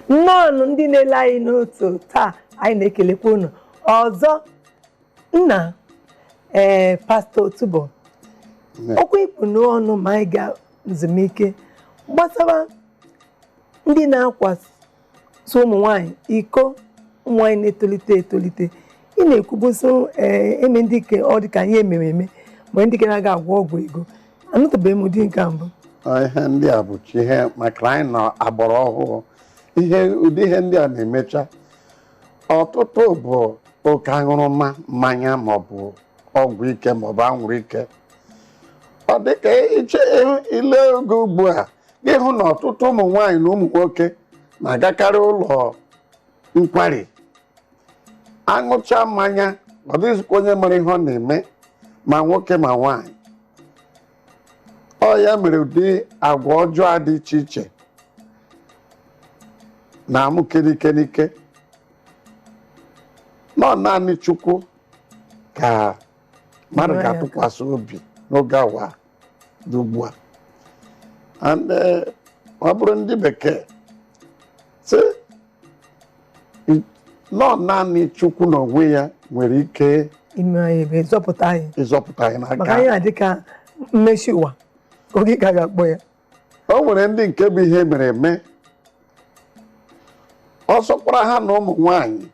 nnọọnụ ndị na-ele anyị n'otu taa anyị na-ekelekwa unu ọzọ nna ee pastọ otubo okwu ị kpụ n'ọnụ ma anyị ga nzumike gbasara ndị na-akwasị so ụmụ nwaanyị iko ụmụ nwaanyị na-etolite etolite ị na-ekwubu so ee eme ndị ke ọ dị ka ihe e mere eme mgbe ndị ke na-aga agwọ ọgwụ ego anụtụbeghị m ụdị nke a mbụ Ọ ihe ndị a bụcha ihe maka anyị na ọgbara ọhụụ ihe ụdị ihe ndị a na-emecha ọtụtụ bụ oke aṅụrụma mmanya maọbụ ọgwụ ike maọbụ anwụrụ ike ọ dịka i che i lee oge ugbu a ị hụ na ọtụtụ ụmụ nwaanyị na ụmụ nwoke na-agakarị ụlọ nkwari aṅụcha mmanya ọ dịghịzikwa onye mara ihe ọ na-eme ma nwoke ma nwaanyị ọ ya mere ụdị agwa ọjọọ a dị iche iche na-amụke n'ike n'ike na ọ naanị chukwu ka mmadụ ga-atụkwasị obi n'oge awa dị ugbu a and eh, ọ bụrụ ndị bekee sị i- na ọ naanị chukwu na onwe ya nwere ike ime anyị ebere zọpụta anyị ịzọpụta anyị maka ihe a dị ka mmesi ụwa oge ka a ga-akpọ ya o nwere ndị nke bụ ihe e mere eme ọ sọkwara ha na ụmụ nwanyị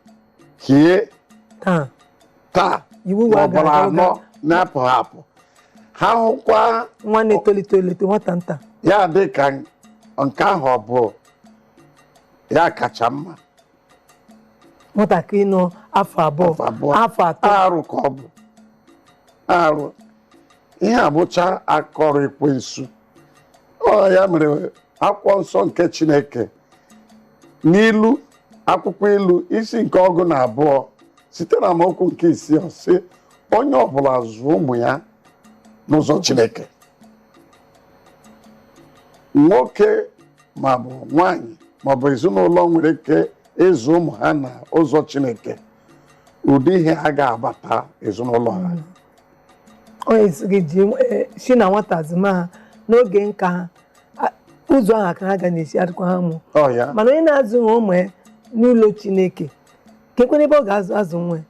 hie taa taa ugboro anọ na-apụ apụ ha hụkwa nwa na-etolite etolite nwata nta ya dị ka nke ahụ ọ bụ ya kacha mma nwatakịrị nọ afọ abụọ Afọ abụọ. afọ atọ arụ ka ọ bụ arụ ihe a bụcha aka ọrụ ekwensu ọ ya mere akwụkwọ nsọ nke chineke n'ilu akwụkwọ ilu isi nke ọgụ na abụọ site na amaokwu nke isii ọ sị onye ọbụla zụọ ụmụ ya n'ụzọ chineke nwoke maọbụ nwanyị maọbụ ezinụlọ nwere ike ịzụ ụmụ ha na ụzọ chineke ụdị ihe a aga abata ezinụlọ ha ọ sị gị eh, si na nwata zụma ha n'oge nka ha a- ụzọ ahụ ka ha ga na-esi adịkwa ha mụ ọ ya mana onye na-azụghị ụmụ ya n'ụlọ chineke kekwanụ ebe ọ ga-azụ azụ nwa ya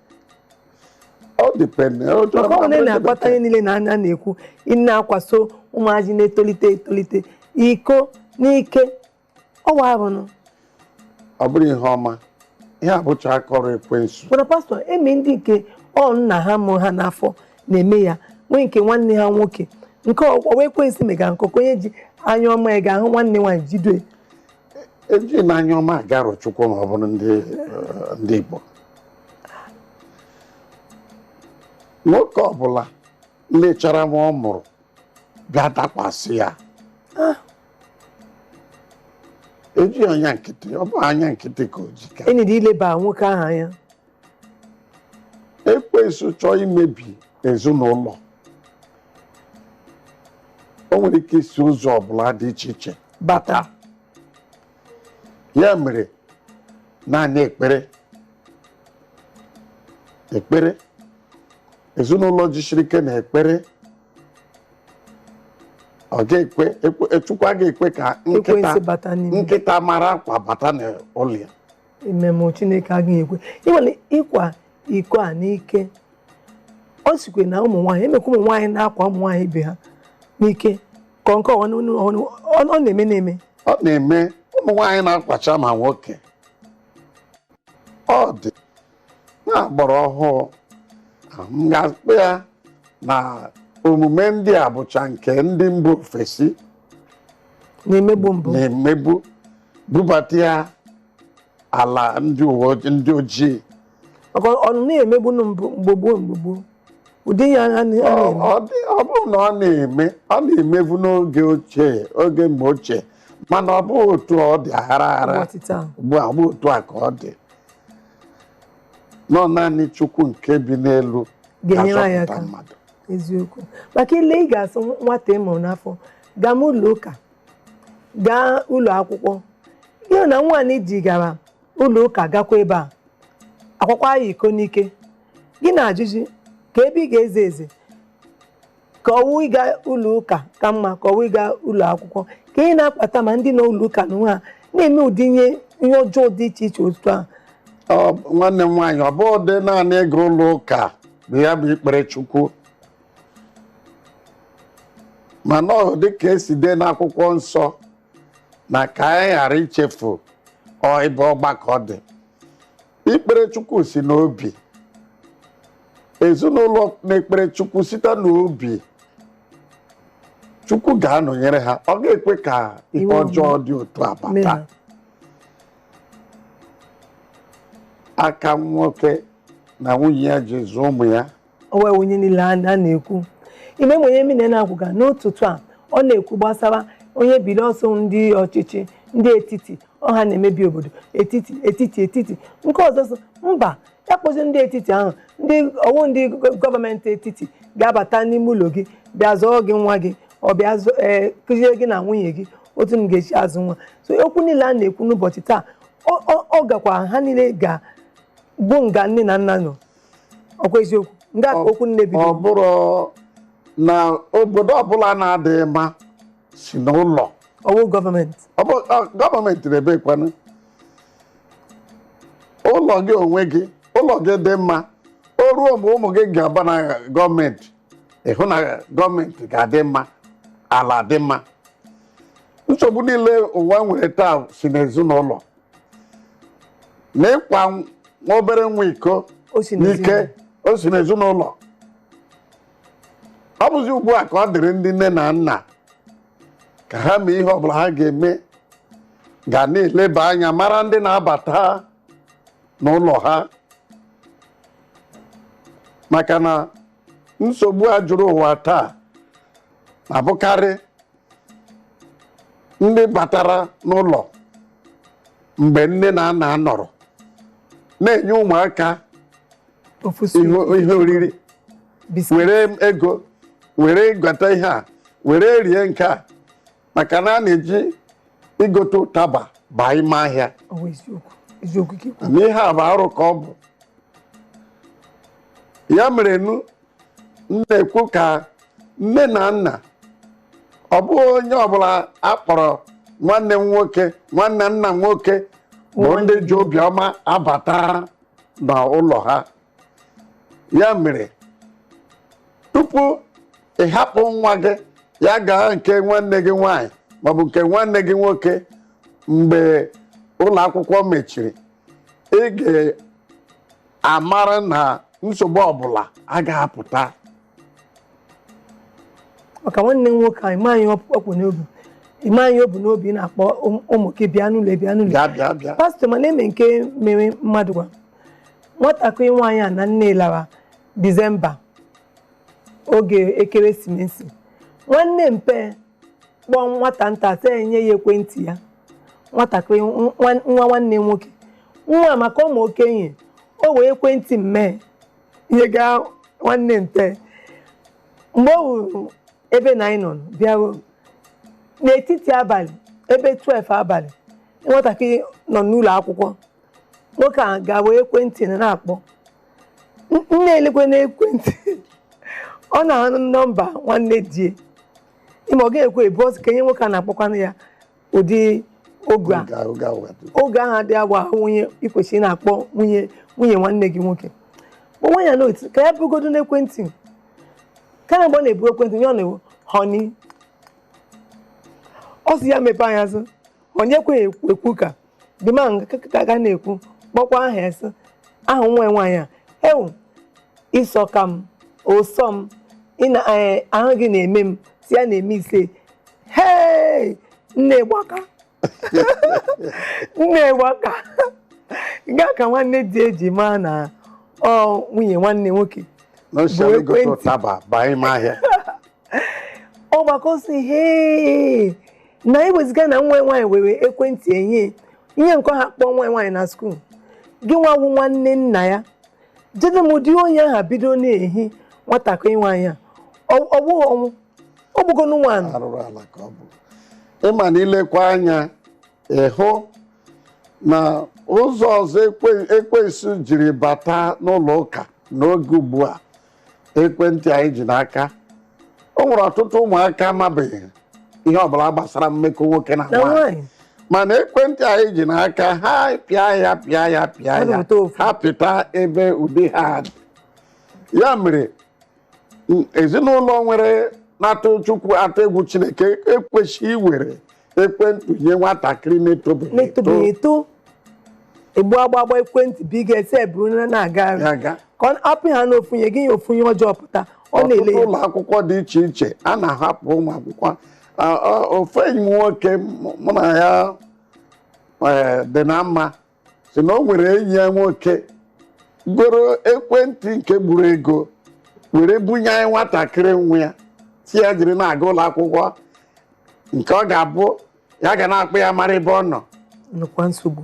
ọ dịpendị ọ chọrọ maka ọ mmadụ na-akpata ihe niile a anyị na-ekwu ị na-akwaso ụmụazị na-etolite etolite iko n'ike ọ wụ arụ nụ ọ bụrọ ihe ọma ihe a bụcha aka ọrụ ekwensu mana pastọ eme ndị nke ọ nna ha mụrụ ha n'afọ na-eme ya nwee nke nwanne ha nwoke nke ọ wụ ekwensu mega nke ọkụ onye ji anya ọma ya ga-ahụ nwanne nwaanyị jide eji n'anya ọma aga arọchukwu ma ọ bụrụ ndị eh, ndị igbo nwoke ọbụla lechara nwa ọ mụrụ bịa dakwasị ya ejighị anya nkịtị ọ bụghị anya nkịtị ka o ji kwesịrị ileba nwoke ahụ anya ekwensu chọọ imebi ezinụlọ o nwere ike isi ụzọ ọbụla dị iche iche bata ya mere naanị ekpere ekpere ezinụlọ jisiri ike na ekpere ọ ga-ekwe ekwe- chukwu agaghị ekwe ka nkịta Ekwensu bata n'ime. nkịta mara akwa bata n'ụlọ ya amen chineke agaghị ekwe ị ma na ịkwa iko a n'ike ọ sịkwa na ụmụ nwaanyị emekwa ụmụ nwaanyị na-akwa ụmụ nwaanyị ibe ha n'ike ka nke ọwa n'onu ọhụrụ ọ ọ na-eme na-eme ọ na-eme ụmụ nwaanyị na-akwacha ma nwoke ọ dị na agbara ọhụụ m ga-akpọ ya na omume ndị a bụcha nke ndị mba ofesi na-emebu mbụ na-emebu bubata ya ala ndị uwe ojii- ndị ojii maka ọ na-emebu nụ mbụ mgbe gboo mgbe gboo ụdị ya ha na- ha Ọ- na-eme ọ dị- ọ bụrụ na ọ na-eme ọ na-emebu n'oge ochie oge mgbe ochie mana ọ bụghị otu ọ dị aghara aghara ụbọchị taa ugbu a ọ bụ otu a ka ọ dị nọ naanị chukwu nke bi n'elu Ga-enyere anyị ga-azọpụta aka. mmadụ eziokwu maka lee ị ga-asị nwata ị mụrụ n'afọ gaa m ụlọ ụka gaa ụlọ akwụkwọ ihe na nwaanyị ji gara ụlọ ụka gakwa ebe a akwakwa ya iko n'ike gị na-ajụzi kee ebe ị ga-eze eze ka ọwụ ịga ụlọ ụka ka mma ka ọwụ ịga ụlọ akwụkwọ kee ihe na-akpata ma ndị nọ ụlọ ụka n'onwe ha na-eme ụdị ihe ihe ọjọọ dị iche iche otu a Ọ- nwanne m nwaanyị ọ bụghịdị naanị ịga ụlọ ụka bụ ya bụ ikpere chukwu mana ọ dị ka esi dee n'akwụkwọ nsọ na ka anyị ghara ichefu ọ ebe ọgbakọ dị ikpere chukwu si n'obi ezinụlọ na-ekpere chukwu site n'obi chukwu ga-anọnyere ha ọ ga-ekwe ka ihe ọjọọ dị otu a bata Amen. aka nwoke na nwunye ya ji zụọ ụmụ ya ọwụ ihe niile a na- a na-ekwu ime ma onye mmiri na-akwụga n'ụtụtụ a ọ na-ekwu gbasara onye biri ọsọ ndị ọchịchị ndị etiti ọ ha na-emebi obodo etiti etiti etiti nke ọzọ sị mba ya wụzi ndị etiti ahụ ndị ọwụ ndị gọ- gọọmenti etiti ga-abata n'ime ụlọ gị bịa zụọ gị nwa gị ọ bịa zụ- ee, kụziere gị na nwunye gị otu unu ga-esi azụ nwa so okwu niile a na-ekwu n'ụbọchị taa ọ- ọ ọ gakwa ha niile ga bụ nga nne na nna nọ ọkwa eziokwu nga ka okwu na-ebido ọ bụrụ na obodo ọbụla na-adịghị mma si n'ụlọ ọwụ gọọmenti ọ bụ ọ, gọọmenti nebekwanụ ụlọ gị onwe gị ụlọ gị dị mma o ruo mgbe ụmụ gị ga-aba na gọọmenti ị hụ na gọọmenti ga-adị mma ala dị mma nsogbu niile ụwa nwere taa si n'ezinụlọ na ịkwa nwa obere nwa iko n'ike o si n'ezinụlọ ọ bụzi ugbu a ka ọ dịrị ndị nne na nna ka ha mee ihe ọbụla ha ga-eme ga na-eleba anya mara ndị na-abata n'ụlọ ha maka na nsogbu a juru ụwa taa na-abụkarị ndị batara n'ụlọ mgbe nne na nna anọrọ na-enye ụmụaka ihe oriri were ego were gota ihe a were rie nke a maka na a na-eji igota ụtaba baa ime ahịa na ihe a bụ arụ ka ọ bụ ya mere nu m na-ekwu ka nne na nna ọ bụghị onye ọbụla a kpọrọ nwanne m nwoke nwanne nna m nwoke bụ ndị ji obiọma abata n'ụlọ ha ya mere tupu ị hapụ nwa gị ya gaa nke nwanne gị nwaanyị maọbụ nke nwanne gị nwoke mgbe ụlọ akwụkwọ mechiri ị ga-amara na nsogbu ọbụla agaghị apụta maka nwanne m nwoke ị maghị ihe ọ kpụ n'obi ị maghị ihe o bu n'obi ị na-akpọ ụm- ụmụ gị bịa n'ụlọ bịa n'ụlọ bịa bịa bịa pastọ ma na-eme nke mere mmadụ gwa nwatakịrị nwaanyị ya na nne lara disemba oge ekeresimesi nwanne mpe kpọọ nwata nta sị enye ya ekwentị ya nwatakịrị nwa nwa nwanne nwoke nwa maka ọwụ okenye o wee ekwentị mee ihe gaa nwanne nte mgbe ọ hụrụ ebe na anyị nọ bịaruo n'etiti abalị ebe 12 abalị nwatakịrị nọ n'ụlọ akwụkwọ nwoke a ga-ewere ekwentị na-akpọ nne elekwe n'ekwentị ọ na-ahụ nọmba nwanne di ya ịma ọ ga-ekwe ebu ọsọ ka enye nwoke a na-akpọkwanụ ya ụdị oge ahụ adịghị agwa nwunye ikwesịrị na-akpọ nwunye nwanne gị nwoke kpọnwa ya n'otu ka ya bụgodu n'ekwentị kama mgbe ọ na-ebu ekwentị nye ọ na-ewu honey ọ sị ya mepee anya sị honey ekweghị ekwu ka the man ka ga na-ekwu kpọkwa aha sị ahụ nwa nwaanyị a ewu ị sọka m ụsọ m ahụ gị na-eme m si ya na-eme ise hei nne gbaka nne gbaka nga ka nwanne di ya ji maa na ọ nwunye nwanne nwoke ọ gbaa aka ọ sị hee na ewezuga na nwa nwaanyị were ekwentị enye ihe nke ha kpọọ nwa nwaanyị na skuul gị nwa wu nwanne nna ya jide m ụdị onye ahụ bido na-ehi nwatakịrị nwaanyị a ọ bụghị ọnwụ ọ bụgo nwanụ arụrụ ala ka ọ bụ ị ma na i lekwa anya ị hụ na ụzọ ọzọ ekwensu jiri bata n'ụlọ ụka n'oge ugbu a ekwentị anyị ji n'aka o nwere ọtụtụ ụmụaka amabeghị ihe ọbụla gbasara mmekọ nwoke na nwaanyị mana ekwentị anyị ji n'aka ha pịa ya pịa ya pịa ya ha pịta ebe ụdị ha dị. ya mere ezinụlọ nwere na-atụ chukwu atụ egwu chineke ekwesịghị iwere ekwentị nye nwatakịrị na-etobeghị eto na-etobeghị eto egbu agba agba ekwentị bụ ị ga-asị ya buru na-aga ka ọ apịa n'ofu ihe gị ya ofu ihe ọjọọ pụta ọ na-ele ọtụtụ ụlọ akwụkwọ dị iche iche a na-ahapụ ụmụ akwụkwọ ofu enyi m nwoke mụ na ya dị na mma sị na o nwere enyi ya nwoke goro ekwentị nke gburu ego were bunye nwatakịrị nwa ya sị ya jiri na-aga ụlọ akwụkwọ nke ọ ga-abụ ya ga na-akpọ ya mara ebe ọ nọ nnukwu nsogbu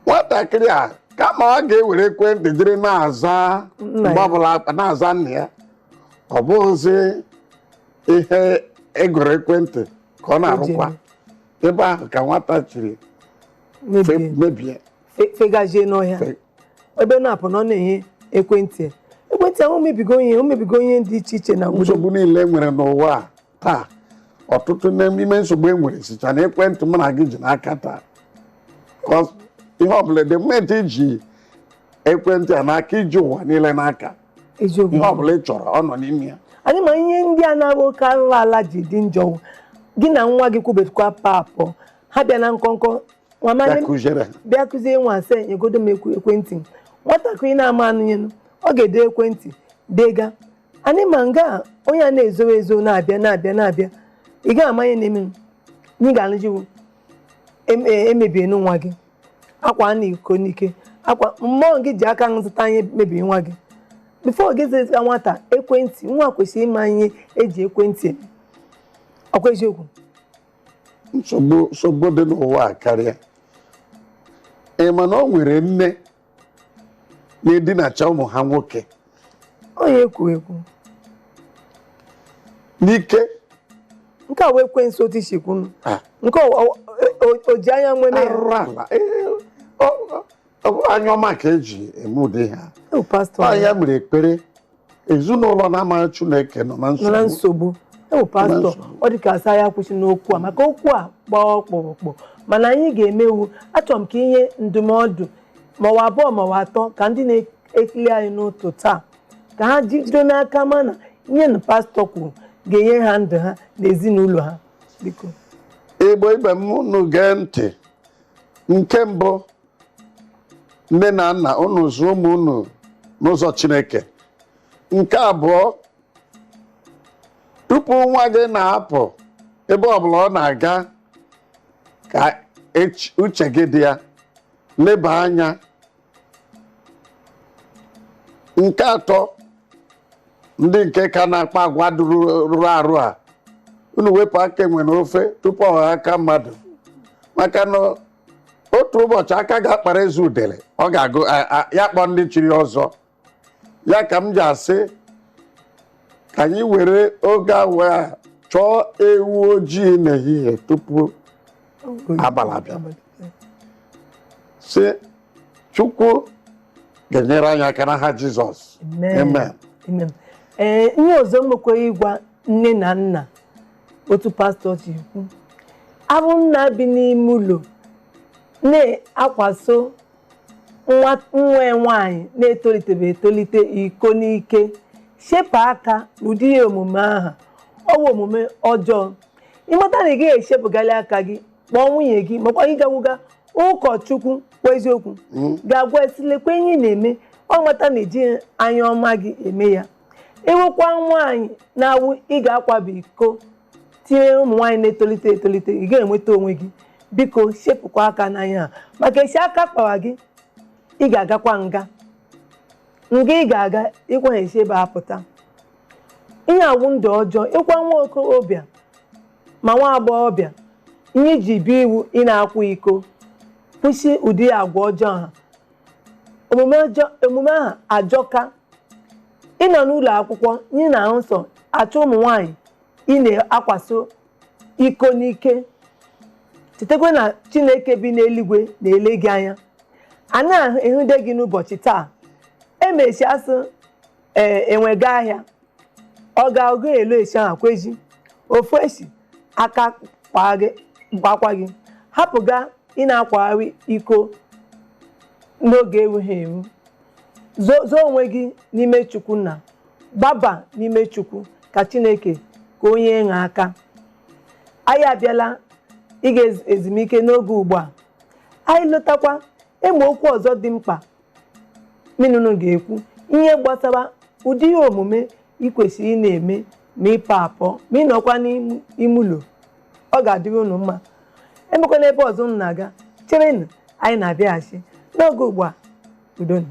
nwatakịrị a kama ọ ga-ewere ekwentị jiri na-aza mgbe ọbụla a kpọọ na-aza nna ya ọ bụghịzi ihe e goro ekwentị ka ọ na-arụkwa ebe ahụ ka nwata chiri mebie mebie fe- fegazie n'ọhịa Fe- ebe na-apụ na ọ na-enye ekwentị ya. ekwentị ahụ mebigo ihe o mebigo ihe dị iche iche na obodo nsogbu niile e nwere n'ụwa a taa ọtụtụ n'ime nsogbu e nwere sicha na ekwentị mụ na gị ji n'aka taa Because ihe ọbụla the moment i ji ekwentị a n'aka i ji ụwa niile n'aka eziokwu ihe ọbụla ị chọrọ ọ nọ n'ime ya anyị ma ihe ndị a na-abụ oke arụrụ ala ji dị njọ gị na nwa gị kwubekwa paapụ ha bịa na nkọnkọ nwa mmadụ bịa kụziere bịa kụzie nwa asị nyegodo m ekwe- ekwentị m nwatakịrị na-ama anụnyenu ọ ga-ede ekwentị dega anyị ma nga a, onye a na-ezowe ezo na-abịa na-abịa na-abịa ị gaghị ama ihe na-eme m na ị ga-alụjiwu em- e- emebie nwa gị akwa a na-eko n'ike akwa mmụọ gị ji aka zụta ihe mebiri nwa gị before gị zụta nwata ekwentị nwa kwesịrị ịma ihe e ji ekwentị eme ọkwa eziokwu nsogbu nsogbu dị n'ụwa a karịa ị ma na o nwere nne na-edinacha ụmụ ha nwoke onye ekwu ekwu n'ike nke a wụ ekwensu otu i si kwunu Ah. nke o- o- o- o ji anya nwene ya arụrụ ala Ee, ọ- ọ- ọ bụrọ anya ọma ka e ji eme ụdị ihe a Ewu, pastọ ọ ya mere ekpere ezinụlọ na-amaghị Chineke nọ na nọ na nsogbu nsogbu ewu pastọ nsogbu. ọ dị ka a sị ya akwụsịna okwu a maka okwu a gbaa ọkpụrụkpụ mana anyị ga-emewu achọrọ m ka i nye ndụmọdụ ma ọ wụ abụọ ma ọ wụ atọ ka ndị na-ekili anyị n'ụtụtụ a ka ha jide n'aka ma na ihe na pastọ kwuru ga-enye ha ndụ ha na ezinụlọ ha biko Igbo ibe m unu gee ntị nke mbụ nne na nna unu zụọ ụmụ unu n'ụzọ chineke nke abụọ tupu nwa gị na-apụ ebe ọbụla ọ na-aga ka uche gị dị ya leba anya nke atọ ndị nke ka na-akpa agwa dụrụ rụrụ arụ a unu wepụ aka enwe n'ofe tupu ọ ghọọ aka mmadụ maka na otu ụbọchị aka ga-akpara eze udele ọ ga-agụ a- a- ya kpọọ ndị chiri ọzọ ya ka m ji asị ka anyị were oge awa a chọọ ewu ojii n'ehihie tupu abalị abịa sị Chukwu ga-enyere anyị aka n'aha jizọs Amen. amen Amen. ee ihe ọzọ m nwekwara ịgwa nne na nna otu pastọ ji kwuo a bụ nna bi n'ime ụlọ na-akwaso nwa nwaanyị na-etolitebe etolite iko n'ike sepụ aka n'ụdị ihe omume ahụ ọ wụ omume ọjọọ ị mata na ị gaghị esepụgali aka gị kpọọ nwunye gị makwa gị gakwuga ụkọchukwu kwa eziokwu gaa gwa ya sị lekwa ihe ị na-eme ọ mata na ejighị anya ọma gị eme ya ị wụkwa nwaanyị na-awụ ị ga-akwaba iko tinye ụmụ nwaanyị na-etolite etolite ị ga-enweta onwe gị biko sepụkwa aka n'ihe a maka esi aka kpawa gị ị ga-agakwa nga nga ị ga-aga ịkwa esi ebe a pụta ihe a wụ ndụ ọjọọ ịkwa nwa okorobịa ma nwa agbọghọbịa ihe i ji biri wụ ị na-akwa iko kwụsị ụdị agwa ọjọọ ahụ omume ahụ ajọka ị nọ n'ụlọ akwụkwọ ị na-ahụ nsọ achọ ụmụ nwaanyị ị na-akwaso iko n'ike chetakwa na chineke bi n'eluigwe na-ele gị anya a na-ehụde gị n'ụbọchị taa emechi asị enwe ga ahịa ọ ga-agụ elu esi ahụ kwezi ofu esi aka kpaakwa gị hapụga ị na-akwagharị iko n'oge erughị eru zoo onwe gị n'ime chukwu nna gbaba n'ime chukwu ka chineke ka o nyere ha aka anyị abịala ịga ezumike n'oge ugbu a anyị lọtakwa e nwee okwu ọzọ dị mkpa mụ na unu ga-ekwu ihe gbasara ụdị ihe omume ị kwesịrị ị na-eme ma ị pụọ apụ ma ị nọkwa n'ime ụlọ ọ ga-adịrị unu mma enwekwana ebe ọzọ unu na-aga cherenụ anyị na-abịaghachi n'oge ugbu a udo nụ